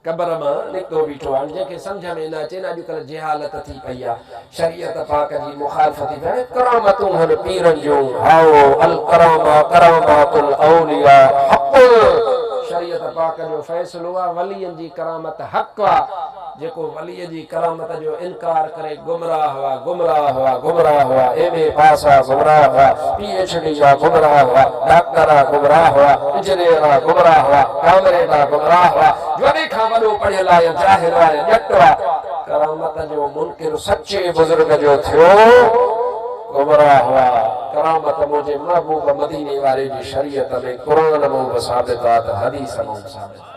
قبر مان نڪتو بيٺو آهن جنهن کي سمجهه ۾ نه اچين اڄ ڪلهه جهالت ٿي پئي آ شريعت پاڪ جي مخالفت ٿي ٿئي هاڻي ڪرامتون هن پيرن جون هائو الڪرامه ڪرامات الاولياء حق شريعت پاڪ جو فيصلو آ ولين جي ڪرامت حق آ. جيڪو وليء جي ڪرامت جو انڪار ڪري گمراهه هئا گمراهه هئا گمراهه هئا ايم اي پاس هئا گمراهه هئا پي ايڇ ڊي جا گمراهه هئا ڊاڪٽر آ گمراهه هئا انجنيئر آ گمراهه هئا ڪامريڊ آ گمراهه هئا وڏي کان وڏو پڙهيل آ يا جاهل آ يا ڄٽ آ ڪرامت جو منڪر سچي بزرگ جو ٿيو گمراهه هئا ڪرامت منهنجي محبوب مديني واري جي شريعت ۾ قرآن مون به ثابت آ ته حديث مون به ثابت آ.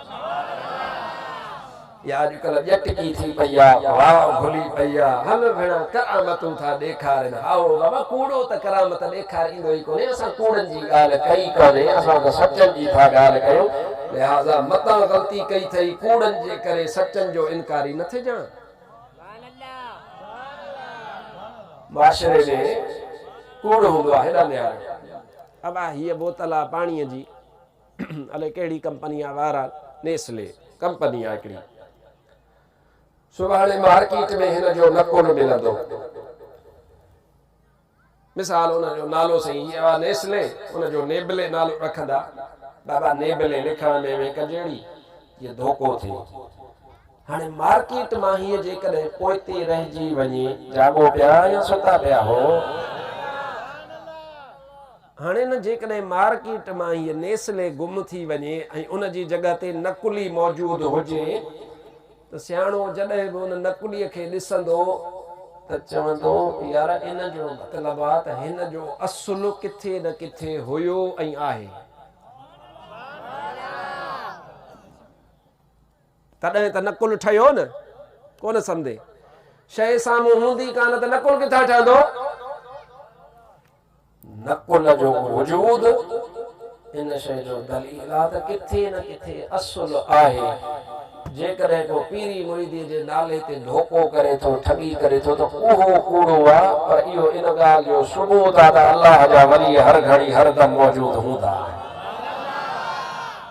يا اڄڪلهه ڄٽ ڪي ٿي پئي آ، واء ڀلي پئي آ، هل ڀيڻان ڪرامتون ٿا ڏيکارين. هائو، بابا ڪوڙو ته ڪرامت ڏيکار ايندو ئي ڪونهي، اسان ڪوڙن جي ڳالهه ڪئي ڪانهي، اسان ته سچن جي ٿا ڳالهه ڪيون، لهٰذا متان غلطي ڪئي ٿئي، ڪوڙن جي ڪري سچن جو انڪاري نه ٿجان. معاشري ۾ ڪوڙ هوندو آ هيڏانهن نهاريو. ابا هيء بوتل آ پاڻيء جي. الي ڪهڙي ڪمپني آ وارا نيسلي ڪمپني آ هڪڙي سڀاڻي مارڪيٽ ۾ هن جو نه ڪونه ملندو مثال ان جو نالو سائين هي آ نيسلي ان جو نيبلي نالو رکندا بابا نيبلي لکڻ ۾ وي ڪجهڙي جي ڌوڪو ٿي هاڻي مارڪيٽ مان هي جيڪڏهن پوئتي رهجي وڃي جاڳو پيا يا ستا پيا هو هاڻي نه جيڪڏهن مارڪيٽ مان هيء نيسلي گم ٿي وڃي ۽ ان جي جڳهه تي نقلي موجود هجي ته سياڻو جڏهن به ان نقليء کي ڏسندو ته چوندو يار ان جو مطلب آ ته هن جو اصل ڪٿي نه ڪٿي هيو ۽ آهي. تڏهن ته نقل ٺهيو نه. ڪونه سمدي. شيء سامهون هوندي ڪانه ته نقل ڪٿان ٺهندو؟ نقل جو وجود ان شيء جو دليل آ ته ڪٿي نه ڪٿي اصل آهي. جيڪڏهن ڪو پيري مريديء جي نالي تي ڌوڪو ڪري ٿو، ٺڳي ڪري ٿو ته اهو ڪوڙو آ، پر اهو ان ڳالهه جو ثبوت آ ته الله جا ولي هر گهڙي هر دم موجود هوندا آهن.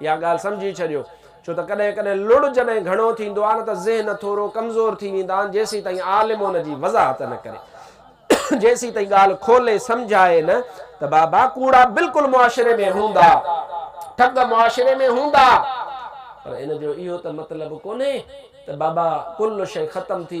اها ڳالهه سمجهي ڇڏيو، ڇو ته ڪڏهن ڪڏهن لڙ جڏهن گهڻو ٿيندو آهي نه ته ذهن ٿورو ڪمزور ٿي ويندا آهن جيسين تائين عالم ان جي وضاحت نه ڪري جيسين تائين ڳالهه کولي سمجهائي نه ته بابا ڪوڙا بلڪل معاشري ۾ هوندا ٺڳ معاشري ۾ هوندا پر ان جو اهو ته مطلب ڪونهي ته بابا ڪل شيء ختم ٿي